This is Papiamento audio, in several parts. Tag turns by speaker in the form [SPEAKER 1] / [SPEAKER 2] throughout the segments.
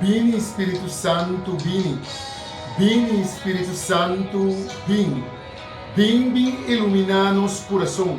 [SPEAKER 1] Bini Spiritu Santu bini Bini Spiritu Santu bin Bin bin ilumina nos kurason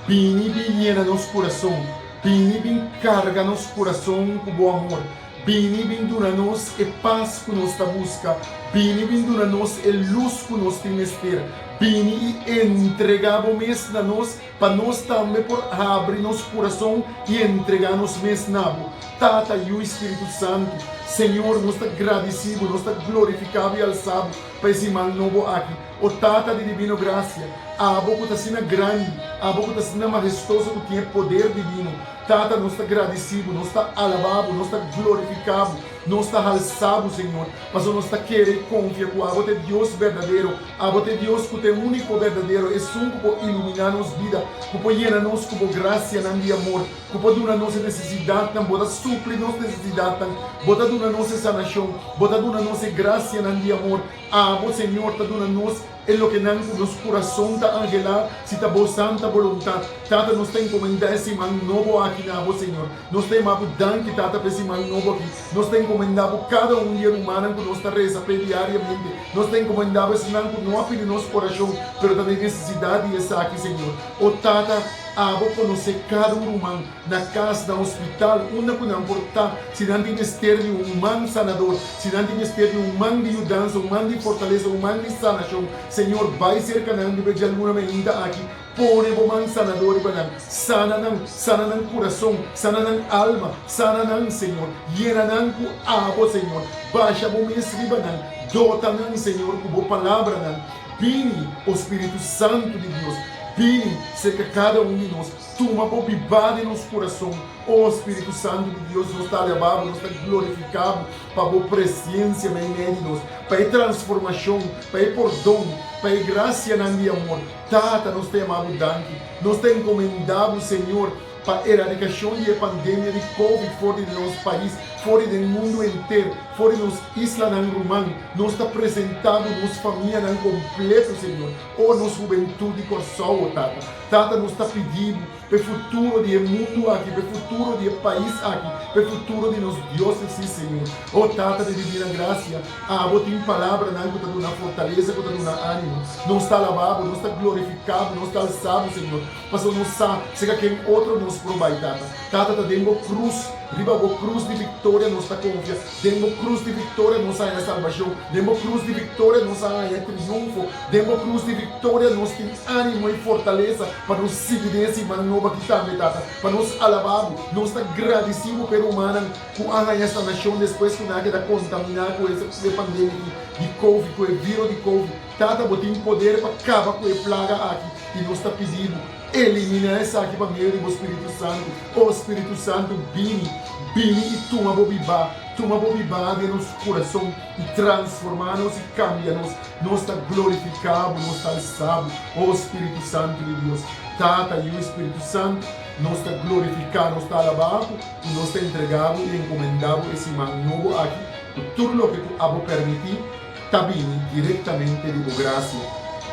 [SPEAKER 1] Bini bin yena nos kurason Bini bin karga nos kurason ku bo amor Bini bin duna nos e pas ku nos ta buska Bini bin duna nos e lus ku nos tin mester Bini i entrega bo mes na nos Pa nos tambe por abri nos kurason i entregá nos mes na bo, Tata, Yu i Spiritu Santu. Señor, nos ta gradisí bo, nos ta glorifiká bo i alsá bo pa e siman nobo aki. O Tata di divino grasia, abo ku ta asina grandi, abo ku ta asina mahestoso ku tin e poder divino, Tata, nos ta gradisí bo, nos ta alabá bo, nos ta glorifiká bo, Nos ta halsa Bo, Señor, pasobra nos ta kere i konfia ku abo ta e Dios berdadero. Abo ta e Dios ku ta e úniko berdadero Esun ku por iluminá nos bida, ku por yena nos ku Bo grasianan di amor, ku por duna nos e nesesidatnan. Bo ta supli nos nesesidatnan. Bo ta duna nos e sanashon. Bo ta duna nos e grasianan di amor. Abo, Señor, ta duna nos. E loke nan cu nos curason ta angela, si ta Bo santa boluntat. Tata, nos ta encomenda e siman nobo aki na Bo, Señor. Nos ta yama Bo danki, Tata, pa e siman nobo aki. Nos ta encomenda Bo cada un di e rumannan cu nos ta reza p'e diariamente. Nos ta encomenda Bo esnan cu no a pidi nos oracion, pero ta den necesidad di esaki, Señor. O Tata, Abo conoce cada un ruman. na cas, na hospital, unda cu nan por ta si nan tin mester di un man sanador, si nan tin mester di un man di yudansa, un man di fortalesa, un man di sanacion. Señor, bai cerca nan riba e djaluna meinta aki, pone Bo man sanador riba nan, sana nan, sana nan curason, sana nan alma, sana nan, Señor, yena nan cu Abo, Señor, basha Bo mes riba nan, dota nan, Señor, cu Bo Palabranan. Bini, O Spiritu Santu di Dios, bini cerca cada un di nos. Tuma bo bibá den nos kurason, o Spiritu Santu di Dios, nos ta alabá bo, nos ta glorifiká bo pa bo presensia na e medio di nos, pa e transformashon, pa e pordon, pa e grasianan di amor. Tata, nos ta yamá bo danki. Nos ta enkomendá bo, Señor, pa eradikashon di e pandemia di Covid for di nos pais, for di den mundu henter, for di nos islanan ruman. Nos ta presentá bo nos famianan kompleto, Señor, o nos hubentut di Kòrsou, o Tata. Tata, nos ta pidi Bo pa e futuro di e mundu aki, pa e futuro di e pais aki, pa e futuro di nos diosen, sí, Señor. Oh, Tata di Divina Gracia, Abo tin palabranan cu ta duna fortaleza, cu ta duna ánimo. Nos ta alabá Bo, nos ta glorificá Bo, nos ta alzá Bo, Señor, pasobra nos sa si ca ken otro nos por bai, Tata. Tata, ta den Bo cruz, riba Bo cruz di victoria nos ta confia. Den bo krus di viktoria nos a haña salbashon. Den bo krus di viktoria nos a haña triunfo. Den bo krus di viktoria nos tin ánimo i fortalesa pa nos sigui den e siman noba ki tambe, Tata, pa nos alabá bo. Nos ta gradisí bo p'e rumannan ku a haña sanashon despues ku nan a keda kontaminá ku e pandemia di covid, ku e viro di covid. Tata, bo tin poder pa kaba ku e plaga aki, i nos ta pidi bo, eliminá esaki pa medio di bo Spiritu Santu. O Spiritu Santu, bini, bini i tuma bo bibá, tuma bo bibá den nos kurason, i transformá nos i kambia nos. Nos ta glorifiká bo, nos ta alsá bo, o Spiritu Santu di Dios. Tata, Yu i Spiritu Santu, nos ta glorifiká, nos ta alabá bo, i nos ta entregá bo i enkomendá bo e siman nobo aki, ku tur loke ku abo permití, ta bini direktamente di bo gracia,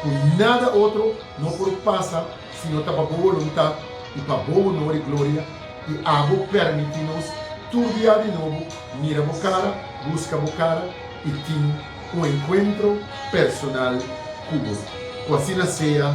[SPEAKER 1] cu nada otro no por pasa sino ta pa bo voluntad y pa bo honor y gloria, y abo permiti nos tur dia di nobo mira bo cara, busca bo cara y tin un encuentro personal cu bo. Cu asina sea.